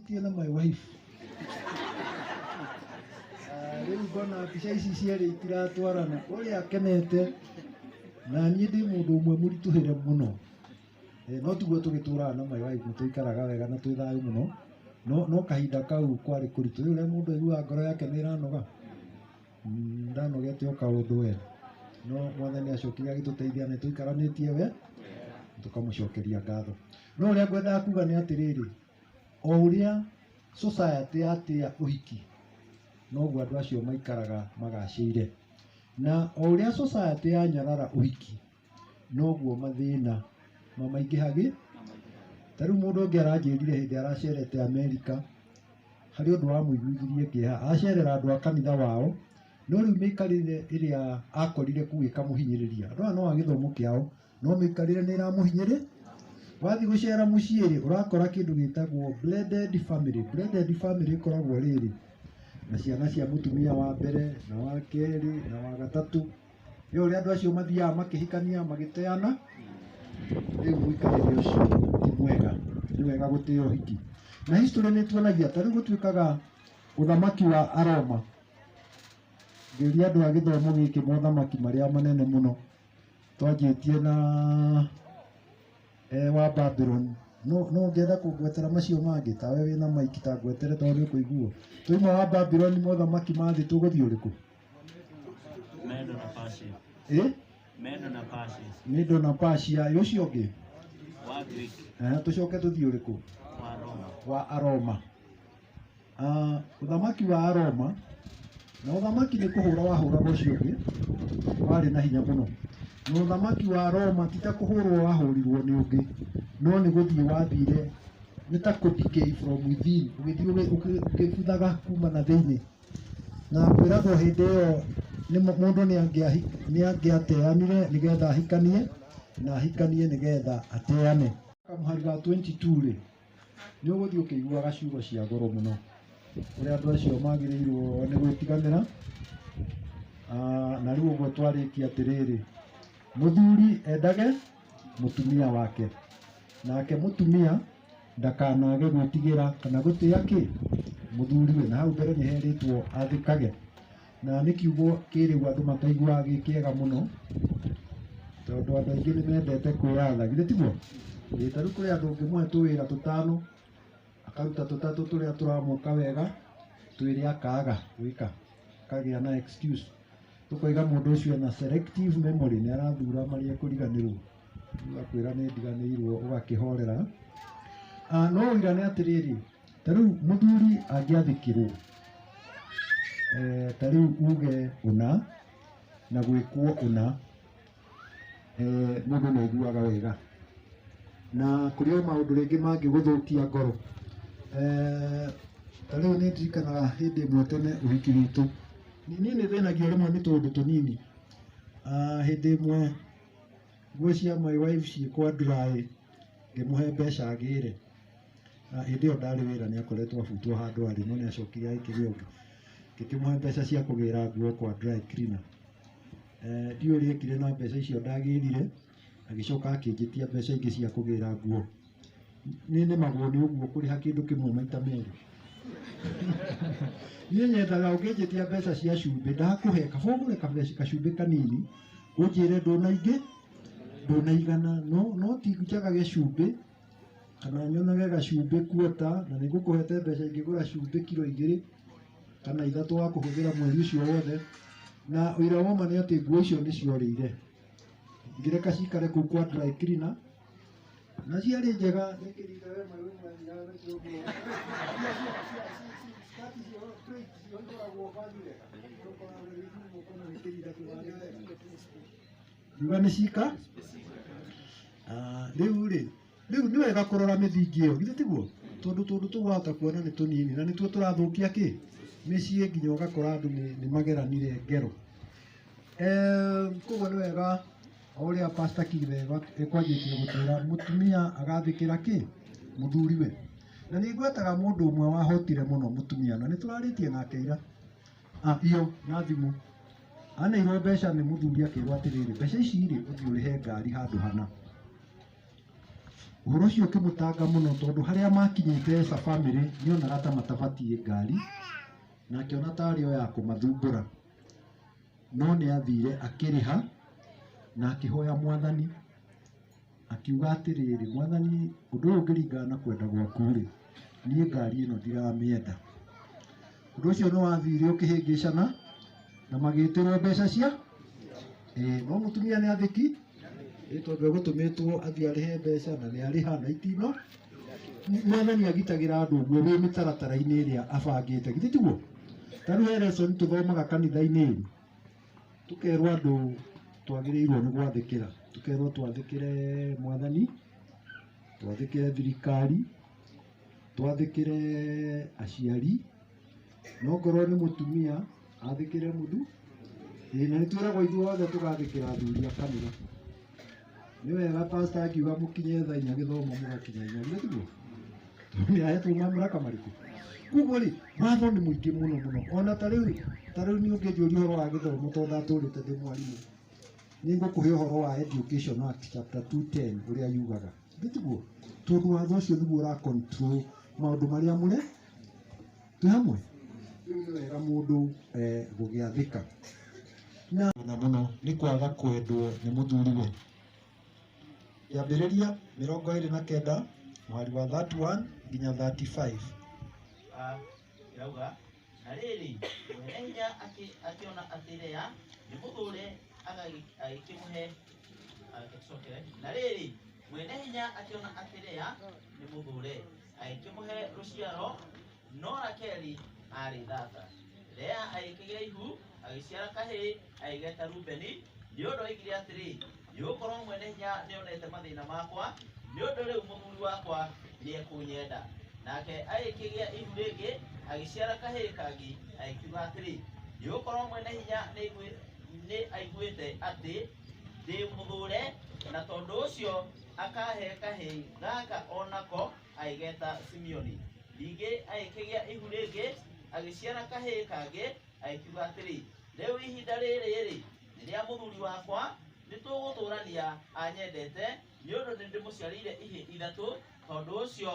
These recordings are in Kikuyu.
Tena my wife. Ah, Rĩu ngona mbica ici cierĩ itiratwarana. Ũrĩa akenete na niĩ ndĩ mũndũ ũmwe mũritũhĩre mũno. Eh, No tiguo tũgĩtũraga na my wife nĩ tũikaraga wega na twĩ thayũ mũno. No no kahinda kau kwarĩ kũritũ. Rĩu ũrĩa mũndũ aiguaga ngoro yake nĩ ĩranoga. Mm, Ndanogete o kaũndũ we. No mwathani acokire agĩtũteithia na nĩ tũikaranĩtie we tũkamũcokeria ngatho. No ũrĩa ngwendaga kuga nĩ atĩrĩrĩ, O ũrĩa society yatĩa ũhiki, noguo andũ acio maikaraga magacĩire. Na o ũrĩa society yanyarara ũhiki, noguo mathĩna mamaingĩhagĩ. Ta rĩu mũndũ ũngĩ aranjĩrire hĩndĩ aracerete America, harĩ ũndũ wamũiguithirie kĩeha. Acerera andũ a kanitha wao, no rĩu mĩikarĩre ĩrĩa akorire kũu ĩkamũhinyĩrĩria. Andũ aya no a gĩthomo kĩao. no mĩikarĩre nĩ ĩramũhinyĩrĩ wathiĩ gũcera mũciĩ rĩ ũrakora kĩndũ gĩtagwo blended family blended family ĩkoragwo rĩrĩ na ciana cia mũtumia wa mbere na wa kerĩ na wa gatatũ rĩu ũrĩa andũ acio mathiaga makĩhikania magĩteana rĩu mũikarĩre ũcio ti mwega nĩ wega gũtĩa ũhiki na history nĩ tuonagia ta rĩu gũtuĩkaga ũthamaki wa aroma ngĩũria andũ a gĩthomo gĩkĩ mothamaki marĩa manene mũno twanjĩtie na eh, wa babylon no no ngenda kũngwetera macio mangĩ ta we wĩna maiki ta ngwetere tondũ nĩ kũiguo tũima wa babylon mothamaki ma thĩ tũgũthiĩ ũrĩkũ Medo na Persia. ĩ Medo na Persia. nĩ ndona pacia ĩ ũcio ũngĩ Wa Greek. Eh, tũcoke tũthiĩ ũrĩkũ Wa Roma. wa aroma Ah, ũthamaki wa Aroma na ũthamaki nĩ kũhũra wahũraga ũcio ũngĩ warĩ na hinya mũno na ũthamaki wa Roma ti ta kũhũrwo wahũrirwo nĩ ũngĩ no nĩ gũthiĩ wathire nĩ ta kũ decay from within ũgĩthiĩ ũgĩ- ũgĩ- ũgĩbuthaga kuma na thĩinĩ na kwĩragwo hĩndĩ ĩyo nĩ mũ- mũndũ nĩ angĩahi- nĩ angĩateanire nĩgetha ahikanie na ahikanie nĩgetha ateane kamũhari ga 22 rĩ Nĩ ũgũthiĩ ũkĩiguaga ciugo cia goro mũno kũrĩa andũ acio magĩrĩirwo nĩ gwĩtiganĩra. Ah, Na rĩu ũguo twarĩkia atĩrĩrĩ, mũthuri endage mũtumia wake, nake mũtumia ndakanage gwĩtigĩra kana gũtĩa kĩ mũthuriwe. Na hau mbere nĩ herĩtwo athĩkage na nĩ kiugo kĩrĩu andũ mataiguaga gĩ kĩega mũno tondũ andũ aingĩ nĩ mendete kwĩyatha githĩ tiguo Ĩĩ, ta rĩu kũrĩ andũ ũngĩmũhe tũwĩra tũtano akaruta tũtatũ tũrĩa tũramũka wega twĩrĩ akaga gwĩka akagĩa na excuse tũkoiga mũndũ ũcio ena selective memory nĩ arathura marĩa ekũriganĩrwo Rĩu akwĩra nĩ ndiganĩirwo ũgakĩhorera Ah, no ũirane atĩrĩrĩ ta rĩu mũthuri angĩathĩkĩrwo eh, ta rĩu uge ũna na gwĩkwo ũna eh, mũndũ nĩ aiguaga wega na kũrĩ o maũndũ rĩngĩ mangĩgũthũkia ngoro eh, ta rĩu nĩ ndirikanaga hĩndĩ ĩmwe tene ũhiki witũ niĩ nĩ thĩnagio rĩmwe nĩ tũũndũ tũnini Ah, hĩndĩ ĩmwe nguo cia my wife ciĩkwa nduraĩ ngĩmũhe mbeca agĩre Hĩndĩ ĩyo ndarĩ wĩra nĩ akoretwo abutwo handũ arĩ no nĩ acokire agĩkĩgĩa ũngĩ. Ngĩkĩmũhe mbeca cia kũgĩra nguo kwa dry cleaner. Ndiũĩ ũrĩa ekire na mbeca icio ndagĩrire, agĩcoka akĩnjĩtia mbeca ingĩ cia kũgĩra nguo. Nĩ nemagwo nĩ ũguo kũrĩha kĩndũ kĩmwe maita merĩ. Niĩ nyendaga ũngĩnjĩtia mbeca cia cumbĩ ndakũhe kaba ũgũre gacumbĩ kanini ũnjĩre ndũna ingĩ, ndũna igana no ti njagage cumbĩ. kana nyonage gacumbĩ kuota na nĩ ngũkũhete mbeca ingĩgũra cumbĩ kiro igĩrĩ kana ithatũ wa kũhũthĩra mweri ũcio wothe na ũira wa ma nĩ atĩ nguo icio nĩ ciorĩire ngĩreka cikare kũu kwa dry cleaner na ciarĩ njega nĩ kĩrinda we maĩ ũmanyiraga na kĩoguo Ngiuga nĩ cika Ah, rĩu rĩ rĩu nĩ wega kũrora mĩthingi ĩyo githĩ tiguo tondũ tũndũ tũu wahota kuona nĩ tũnini na nĩtuo tũrathũkia kĩ mĩciĩ nginya ũgakora andũ nĩ- nĩ mageranire ngero Eh, koguo nĩ wega o ũrĩa pasta kibe ekwanjĩtie gũtwĩra mũtumia agathĩkĩra kĩ mũthuriwe na nĩ ngwetaga mũndũ ũmwe wahotire mũno mũtumia na nĩ tũrarĩtie nake ira Apio na thimũ aneirwo mbeca nĩ mũthuri akĩrwo atĩrĩrĩ mbeca ici rĩ ũthiĩ ũrĩhe ngari handũ hana ũhoro ũcio ũkĩmũtanga mũno tondũ harĩa makinyĩte esa family nĩ onaga ta matabatie ngari na akĩona tarĩ o ya kũmathumbũra no nĩ athire akĩrĩha na akĩhoya mwathani akiuga atĩrĩrĩ, Mwathani, ũndũ ũyũ ũngĩringana na kwenda gwaku-rĩ, niĩ ngari ĩno ndiramĩenda. Ũndũ ũcio nĩ wathire ũkĩhĩngĩcana na magĩtĩrwo mbeca cia ĩĩ, no mũtumia nĩ athĩki ĩĩ, tondũ egũtũmĩtwo athiĩ arĩhe mbeca na nĩ arĩha na itino. Mwathani agitagĩra andũ ũguo wĩ mĩtaratara-inĩ ĩrĩa abangĩte, githĩ tiguo? Ta rĩu he lesson tũthomaga kanitha-inĩ ĩĩ, tũkerwo andũ twagĩrĩirwo nĩ gwathĩkĩra tũkerwo twathĩkĩre mwathani twathĩkĩre thirikari twathĩkĩre aciari no ngorwo nĩ mũtumia athĩkĩre mũthu ĩĩ na nĩ twĩragwo ithuothe tũgathĩkĩra athuri a kanitha nĩ wega pastor akiuga mũkinye thaa inya gĩthomo mũgakinya inya nĩguo nĩ ahetwo mamũra kamarĩkũ kuguo rĩ watho nĩ mũingĩ mũno mũno ona ta rĩu ta rĩu niĩ ũngĩnjũria ũhoro wa gĩthomo to ndatũrĩte ndĩ mwarimũ nĩ ngũkũhe ũhoro wa education act chapter 210 ũrĩa yugaga nĩguo tondũ watho ũcio nĩguo ũra control maũndũ marĩa mũre Nĩ hamwe rĩu nĩ wega mũndũ eh, gũgĩathĩka na mũno mũno nĩ kwaga kwendwo nĩ mũthuriwe yambĩrĩria mĩrongo ĩrĩ na kenda mũhari wa 31 nginya 35 Ah, yauga na rĩrĩ mwene hinya akĩ- akĩona atĩ lea nĩ mũthũre agagĩ- agĩkĩmũhe agĩcokere na rĩrĩ mwene hinya akĩona atĩ lea nĩ mũthũre agĩkĩmũhe rũciaro no rakeli aarĩ thata lea agĩkĩgĩa ihu agĩciara kahĩĩ agĩgeta rubeni nĩ ũndũ oigire atĩrĩ nĩ gũkorwo mwene hinya nĩ onete mathĩna makwa nĩ ũndũ rĩu mũthuri wakwa nĩ ekũnyenda nake agĩkĩgĩa ihu rĩngĩ agĩciara kahĩĩ kangĩ agĩkiuga atĩrĩ nĩ gũkorwo mwene hinya nĩ aiguĩte atĩ ndĩmũthũre na tondũ ũcio akahe kahĩi gaka onako aigeta simeoni ningĩ agĩkĩgĩa ihu rĩngĩ agĩciara kahĩi kangĩ agĩkiuga atĩrĩ rĩu ihinda rĩrĩ-rĩ nĩ rĩa mũthuri wakwa nĩ tũgũtũrania anyendete nĩ ũndũ nĩ ndĩmũciarĩire ihĩ ithatũ tondũ ũcio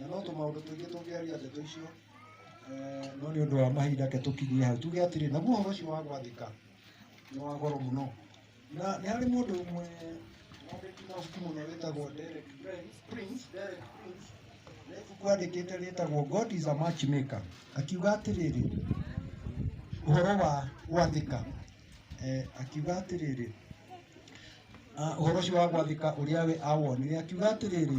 Na no tũmaũndũ tũingĩ tũngĩaria ndeto icio eh, no nĩ ũndũ wa mahinda ke tũkinyie hau tuge atĩrĩ naguo ũhoro ũcio wa gwathĩka nĩ wa goro mũno na nĩ harĩ mũndũ ũmwe wandĩki mabuku mũno wĩtagwo Derek Prince Prince, Derek Prince na ibuku andĩkĩte rĩtagwo God is a matchmaker akiuga atĩrĩrĩ ũhoro wa gwathĩka eh, akiuga atĩrĩrĩ ah, ũhoro ũcio wa gwathĩka ũrĩa we awonire akiuga atĩrĩrĩ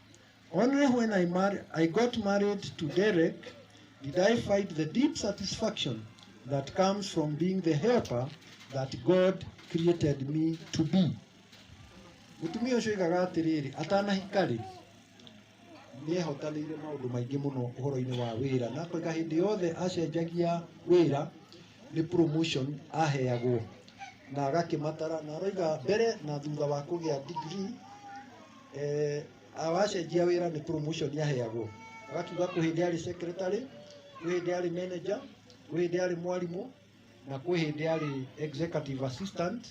Only when I, mar- I got married to Derek did I find the deep satisfaction that comes from being the helper that God created me to be. Mũtumia ũcio oigaga atĩrĩrĩ, atanahika rĩ, nĩehotanĩire maũndũ maingĩ mũno ũhoro-inĩ wa wĩra na koiga hĩndĩ yothe acenjagia wĩra nĩ promotion aheagwo na agakĩmatara na aroiga mbere na thutha wa kũgĩa degree eh, awacenjia wĩra nĩ promotion aheagwo agakiuga kwĩ hĩndĩ arĩ secretary kwĩ hĩndĩ arĩ manager kwĩ hĩndĩ arĩ mwarimũ na kwĩ hĩndĩ arĩ executive assistant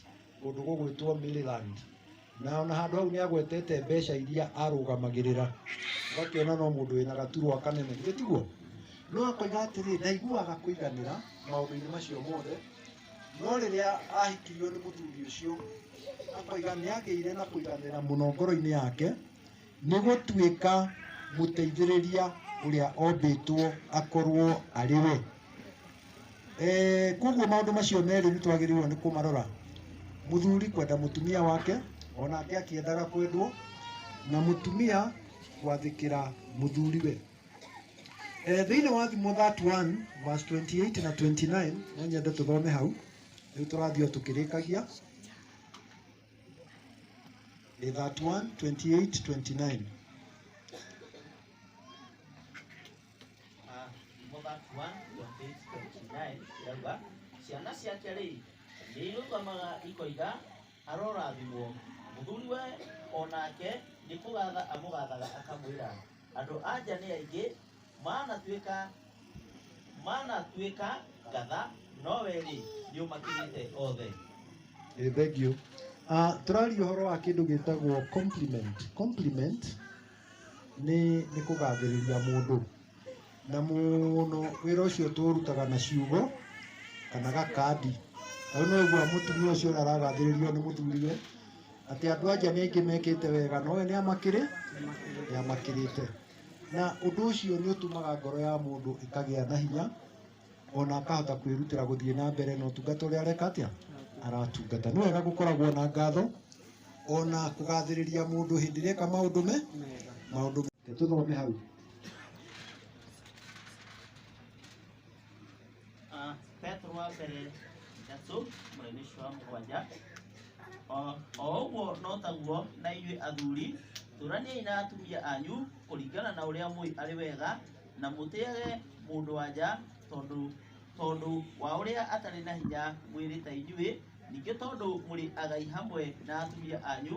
kũndũ gũgwĩtwo Maryland na ona handå hau nä agwetete mbeca iria arũgamagĩrĩra ũgakĩona no mũndũ wĩna gaturwa kanene githĩ tiguo no akoiga atĩrĩ ndaiguaga kũiganĩra maũndũ-inĩ macio mothe no rĩrĩa ahikirio nĩ mũthuri ũcio akoiga nĩ agĩire na kũiganĩra mũno ngoro-inĩ yake Nĩ gũtuĩka mũteithĩrĩria ũrĩa ombĩtwo akorwo arĩ we. Eh, Koguo maũndũ macio merĩ nĩ twagĩrĩirwo nĩ kũmarora, mũthuri kwenda mũtumia wake onake akĩendaga kwendwo, na mũtumia gwathĩkĩra mũthuriwe. Eh, Thĩinĩ wa Thimo 31 verse 28 na 29 no nyende tũthome hau, rĩu tũrathiĩ o tũkĩrĩkagia. Ni 31, 28, 29. Ah, nĩmo bakuwa ndwambĩtinaĩ irauga ciana ciake rĩ nĩirũgamaga ikoiga arorathimwo mũthuri we o nake nĩkũgatha amũgathaga akamwĩra andũ anja nĩ aingĩ manatuĩka manatuĩka ngatha nowe rĩ nĩũmakĩrĩte othe Eh, thank you uh, tũraria ũhoro wa kĩndũ gĩtagwo compliment compliment nĩ nĩ kũgathĩrĩria mũndũ na mũno wĩra ũcio tũũrutaga na ciugo kana gakandi rĩu no ũgua mũtumia ũcio ũrĩa aragathĩrĩrio nĩ mũthuriwe atĩ andũ anja nĩ aingĩ mekĩte wega nowe nĩ amakĩrĩ nĩ amakĩrĩte Na ũndũ ũcio nĩ ũtũmaga ngoro ya mũndũ ĩkagĩa na hinya, ona akahota kwĩrutĩra gũthiĩ na mbere na ũtungata ũrĩa areka atĩa, aratungata. Nĩ wega gũkoragwo na ngatho, ona kũgathĩrĩria mũndũ hĩndĩ ĩrĩa eka maũndũ me, maũndũ me. Tũthome hau. Uh, Petro wa mbere ithatũ mũrĩmi ũcio wa mũgwanja O- o ũguo no taguo na inyuĩ athuri tũraniai na atumia anyu kũringana na ũrĩa mũĩ arĩ wega na mũtĩage mũndũ wanja tondũ tondũ wa ũrĩa atarĩ na hinya mwĩrĩ ta inyuĩ ningĩ tondũ mũrĩ agai hamwe na atumia anyu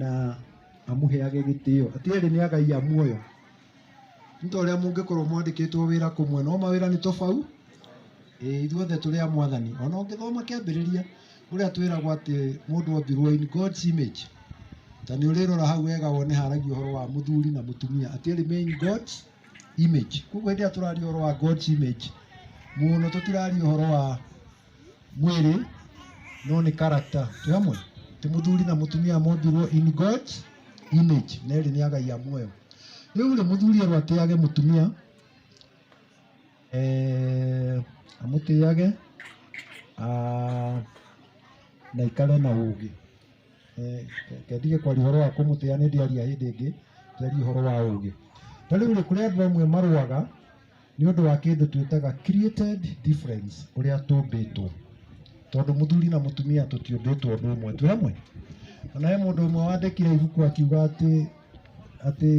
na amũheage gĩtĩo atĩ erĩ nĩ agai a muoyo nĩ ta ũrĩa mũngĩkorwo mwandĩkĩtwo wĩra kũmwe no mawĩra nĩ tobau ĩĩ ithuothe tũrĩ a mwathani ona ũngĩthoma kĩambĩrĩria ũrĩa twĩragwo atĩ mũndũ ombirwo in God's image ta nĩ ũrĩrora hau wega wone haragia ũhoro wa mũthuri na mũtumia atĩ erĩ me in God's image koguo hĩndĩ ĩrĩa tũraria ũhoro wa God's image mũno tũtiraria ũhoro wa mwĩrĩ no nĩ karakta twĩ hamwe ti mũthuri na mũtumia mombirwo in god image na ĩrĩ nĩ agai a muoyo rĩu rĩ mũthuri erwo atĩage mũtumia eh, amũtĩage ah, na ikare na ũgĩ Eh, ke- kendige kwaria ũhoro wa kũmũtĩa nĩ ndĩaria hĩndĩ ĩngĩ twaria ũhoro wa ũgĩ ta rĩu rĩ kũrĩ andũ amwe marũaga nĩ ũndũ wa kĩndũ twĩtaga created difference ũrĩa tũmbĩtwo tondũ mũthuri na mũtumia tũtiũmbĩtwo ũndũ ũmwe twĩ hamwe ona he mũndũ ũmwe wandĩkire ibuku akiuga atĩ atĩ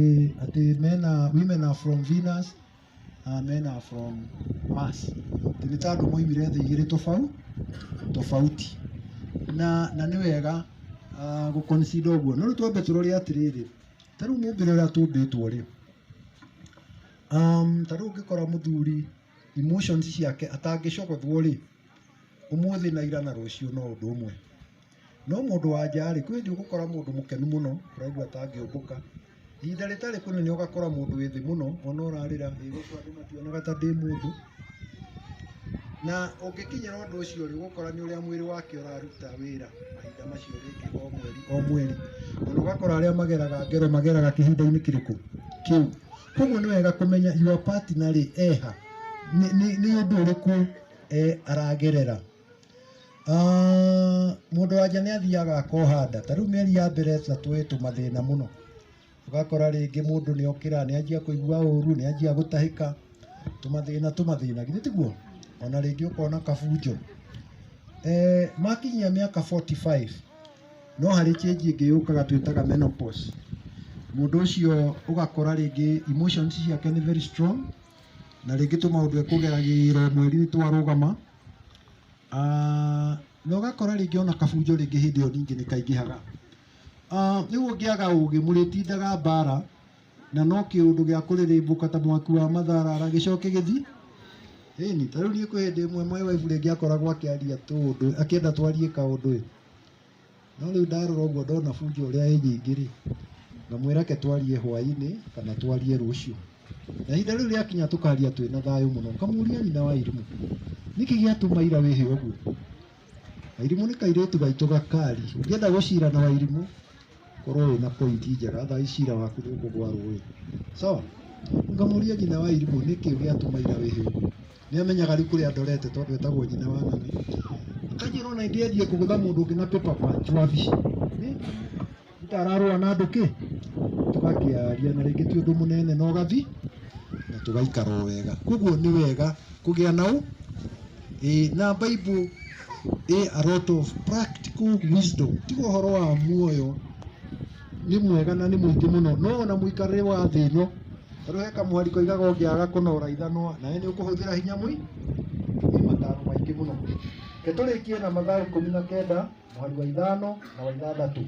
atĩ mena women are from Venus and men are from Mars atĩ nĩ ta andũ moimire thĩ igĩrĩ tofau tofauti na na nĩ wega uh, gũconsider ũguo no rĩu twambe tũrore atĩrĩrĩ ta rĩu mũmbĩre ũrĩa tũmbĩtwo rĩ Ta rĩu ũngĩkora mũthuri emotions ciake atangĩcogothwo rĩ, ũmũthĩ na ira na rũciũ no ũndũ ũmwe. No mũndũ wa nja rĩ, kwĩ hĩndĩ ũgũkora mũndũ mũkenu mũno ũraigua ta angĩũmbũka. Ihinda rĩtarĩ kũnene ũgakora mũndũ wĩ thĩ mũno ona ũrarĩra ĩ gũkũ andũ mationaga ta ndĩ mũndũ. Na ũngĩkinyĩra ũndũ ũcio rĩ, ũgũkora nĩ ũrĩa mwĩrĩ wake ũraruta wĩra mahinda macio rĩngĩ o mweri o mweri. Ona ũgakora arĩa mageraga ngero mageraga kĩhinda-inĩ kĩrĩkũ? Kĩu. koguo nĩ wega kũmenya your partner rĩ eha nĩ- nĩ nĩ ũndũ ũrĩkũ eh, aragerera Ah, mũndũ wanja nĩ athiaga akohanda ta rĩu mĩeri ya mbere ta twĩ tũmathĩna mũno ũgakora rĩngĩ mũndũ nĩ okĩra nĩ anjia kũigua ũru nĩ anjia gũtahĩka tũmathĩna tũmathĩna githĩ tiguo ona rĩngĩ ũkona kabunjo eh, makinyia mĩaka 45 no harĩ change ĩngĩ yũkaga twĩtaga menopause mũndũ ũcio ũgakora rĩngĩ emotions ciake nĩ very strong na rĩngĩ tũmaũndũ ekũgeragĩra mweri twarũgama Ah, na ũgakora rĩngĩ ona kabunjo rĩngĩ hĩndĩ ĩyo ningĩ nĩ kaingĩhaga Ah, rĩu ũngĩaga ũgĩ mũrĩtindaga mbara na no kĩũndũ gĩa kũrĩrĩmbũka ta mwaki wa matharara gĩcoke gĩthi ĩni ta rĩu niĩ kwĩ hĩndĩ ĩmwe my wife rĩngĩ akoragwo akĩaria tũũndũ akĩenda twarie kaũndũ ĩ No rĩu ndarora ũguo ndona bunjo ũrĩa ĩ nyingĩ rĩ, ngamwĩra reke twarie hwaĩ-inĩ kana twarie rũciũ. Na ihinda rĩu rĩakinya tũkaria twĩ na thayũ mũno. Ngamũria nyina wa Irimũ, nĩkĩ gĩatũma ira wĩhe ũguo? Wairimũ nĩ kairĩtu gaitũ gakari, ũngĩenda gũcira na Wairimũ korwo wĩ na point njega thaa ici cira waku nĩ ũkũgwa rũĩ sawa ngamũria nyina wa irimũ nĩkĩ gĩatũma ira wĩhe ũguo nĩ amenyaga rĩu kũrĩa ndorete tondũ etagwo nyina wa ng'ano akanjĩra ona ĩndĩ athiĩ kũgũtha mũndũ ũngĩ na paper punch wabici Nĩ- ndararũa na andũ kĩ tũgakĩaria na rĩngĩ ti ũndũ mũnene na ũgathi na tũgaikara o wega koguo nĩ wega kũgĩa na ũ ĩ na bible ĩ a lot of practical wisdom tiga ũhoro wa muoyo nĩ mwega na nĩ mũingĩ mũno no ona mũikarĩre wa thĩ ĩno tondũ he kamwari koigaga ũngĩaga kũnora ithanwa nawe nĩ ũkũhũthĩra hinya mũi nĩ mataro maingĩ mũno ke tũrĩkie na mathaa ikũmi na kenda mwari wa ithano na wa ithathatũ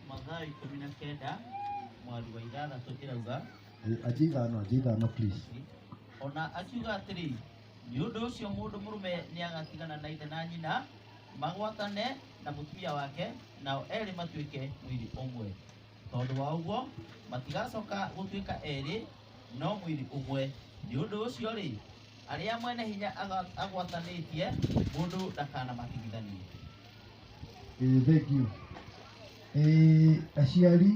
mathaa ikũmi na kenda mweri wa ithathatũ ĩrauga Aje ithano, aje ithano please. ona akiuga atĩrĩ nĩ ũndũ ũcio mũndũ mũrũme nĩagatigana na ithe na nyina magwatane na mũtumia wake nao erĩ matuĩke mwĩrĩ ũmwe tondũ wa ũguo matigacoka gũtuĩka erĩ no mwĩrĩ ũmwe nĩ ũndũ ũcio rĩ arĩa mwene hinya aga- agwatanĩtie mũndũ ndakanamatigithanie Ĩĩ thengio. Ĩĩ aciari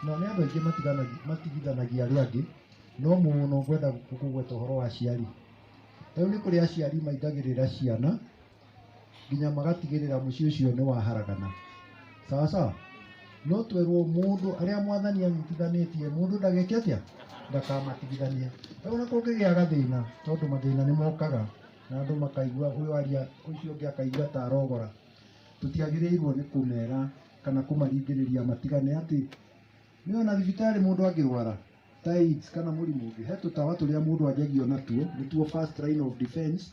na nĩ andũ aingĩ matiganagia matigithanagia arĩa angĩ no mũno ngwenda gũkũ kũgweta ũhoro wa aciari. Rĩu nĩ kũrĩ aciari maingagĩrĩra ciana nginya magatigĩrĩra mũciĩ ũcio nĩ waharagana. Sawa sawa? No twerwo mũndũ arĩa mwathani anyitithanĩtie mũndũ ndageke atĩa? Ndakamatigithanie. Rĩu ona kũngĩgĩa gathĩna tondũ mathĩna nĩ mokaga. na andũ makaigua ũyũ aria ũcio ũngĩ akaigua ta arogora tũtiagĩrĩirwo nĩ kũmera kana kũmaringĩrĩria matigane atĩ nĩ ona thibitarĩ mũndũ angĩrwara ta AIDS kana mũrimũ ũngĩ he tũtawa tũrĩa mũndũ anjagio natuo nĩtuo first line of defense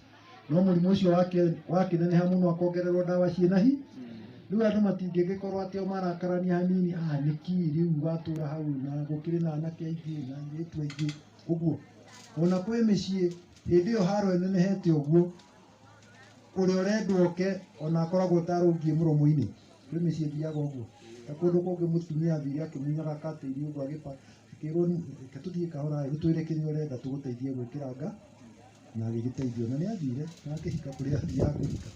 no mũrimũ ũcio wake- wakĩneneha mũno akongererwo ndawa ciĩ na hi rĩu andũ matingĩgĩkorwo atĩ o marakarania hanini ah nĩki rĩu watũra hau na gũkĩrĩ na anake aingĩ na airĩtu aingĩ ũguo ona kwĩ mĩciĩ hĩndĩ ĩyo haro ĩnenehete ũguo ũrĩa ũrendwo oke ona akoragwo tarũngiĩ mũromo-inĩ rĩu mĩciĩ thiaga ũguo ta kũndũ kũngĩ mũtumia athire akĩmunyaga katĩri ũguo agĩpa akĩrwo reke tũthiĩ kahora ĩ ũtwĩre kĩrĩa ũrenda tũgũteithie gwĩkĩra nga na agĩgĩteithio na nĩ athire na akĩhika kũrĩa athiaga kũhika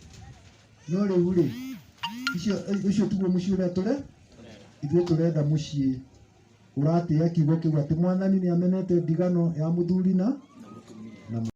no rĩu rĩ icio ũcio tiguo mũciĩ ũrĩa tũre ithuĩ tũrenda mũciĩ ũratĩĩa kiugo kĩu atĩ mwathani nĩamenete ndigano ya mũthuri na